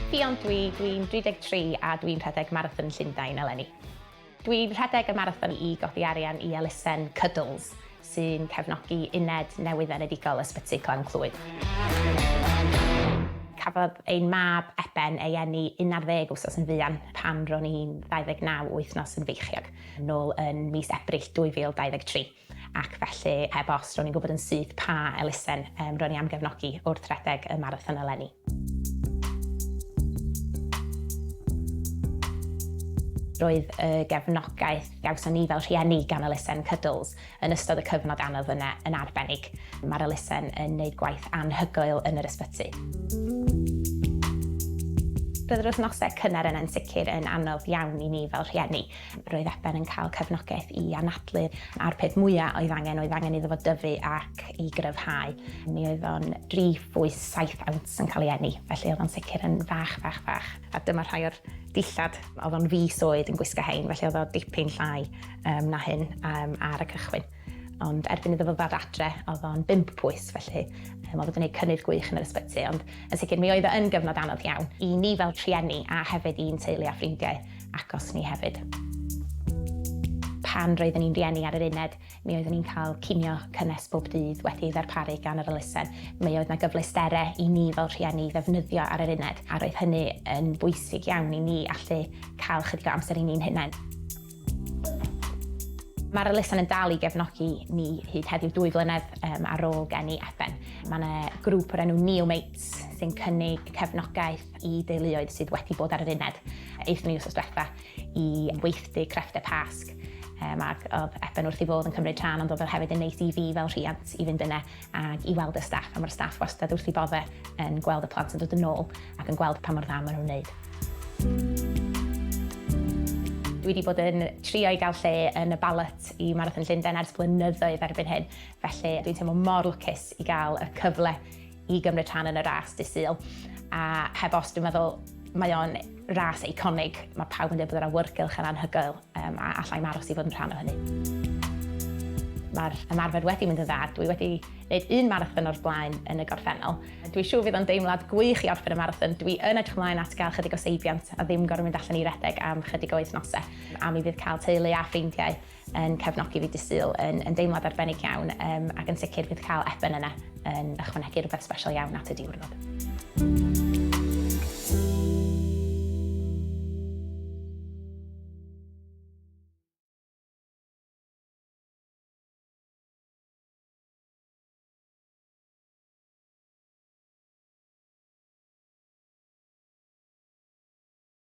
Ffion dw i, dw i'n 33 a dw i'n rhedeg Marathon Llundain eleni. Dw i'n rhedeg y marathon i godi arian i elusen Cuddles, sy'n cefnogi uned newydd-enedigol Ysbyty Glan Clwyd. Cafodd ein mab Eben ei eni 11 wsos yn fuan pan ro'n i'n 29 wythnos yn feichiog. nôl yn mis Ebrill 2023 ac felly heb os ro'n i'n gwybod yn syth pa elusen um, ro'n i am gefnogi wrth rhedeg y marathon eleni. Roedd y gefnogaeth gawson ni fel rhieni gan elusen Cuddles yn ystod y cyfnod anodd yna yn arbennig. Mae'r elusen yn neud gwaith anhygoel yn yr ysbyty. Roedd yr wythnosau cynnar yna yn sicr yn anodd iawn i ni fel rhieni. Roedd Eben yn cael cefnogaeth i anadlu a'r peth mwya oedd angen oedd angen iddo fo dyfu ac i gryfhau. Mi oedd o'n dri phwys saith awns yn cael ei eni, felly oedd o'n sicr yn fach, fach, fach. A dyma rhai o'r dillad. Oedd o'n fis oed yn gwisgo hein, felly oedd o dipyn llai. um, na hyn um, ar y cychwyn. Ond erbyn iddo fo ddod adre, oedd o'n bimp pwys, felly um, oedd o'n gwneud cynnydd gwych yn yr ysbyty, ond yn sicr mi oedd o'n gyfnod anodd iawn i ni fel trienni a hefyd i'n teulu a ffrindiau agos ni hefyd. Pan roeddwn ni'n rieni ar yr uned, mi oeddwn ni'n cael cinio cynnes bob dydd wedi ddarparu gan yr elusen. Mi oedd yna gyfleusterau i ni fel rhieni ddefnyddio ar yr uned, a roedd hynny yn bwysig iawn i ni allu cael chydig o amser i ni'n hunain. Mae'r elusen yn dal i gefnogi ni hyd heddiw dwy flynedd um, ar ôl gen i Effen. Mae yna grŵp o'r enw Neo Mates sy'n cynnig cefnogaeth i deuluoedd sydd wedi bod ar yr uned. Eithon ni wrth diwetha i weithdy crefftau Pasg um, ac oedd Effen wrth i fodd yn cymryd rhan ond oedd hefyd yn neis i fi fel rhiant i fynd yna ac i weld y staff a mae'r staff wastad wrth ei bodde yn gweld y plant yn dod yn ôl ac yn gweld pa mor dda maen nhw'n wneud. Dwi wedi bod yn trio i gael lle yn y ballot i Marathon Llundain ers blynyddoedd erbyn hyn, felly dwi'n teimlo mor lwcus i gael y cyfle i gymryd rhan yn y ras dydd Sul a heb os dwi'n meddwl mae o'n Ras eiconig, mae pawb yn dweud bod yr awyrgylch yn anhygoel, yym, a alla i'm aros i fod yn rhan o hynny. Mae'r ymarfer wedi mynd yn dda, dwi wedi wneud un marathon o'r blaen yn y gorffennol. Dwi'n siŵr fydd o'n deimlad gwych i orffen y marathon, dwi yn edrych ymlaen at gael chydig o seibiant a ddim gorfod mynd allan i redeg am chydig o wythnosau, a mi fydd cael teulu a ffrindiau yn cefnogi fi Dydd Sul yn yn deimlad arbennig iawn yym ac yn sicr bydd cael Eben yna yn ychwanegu rhywbeth sbesial iawn at y diwrnod.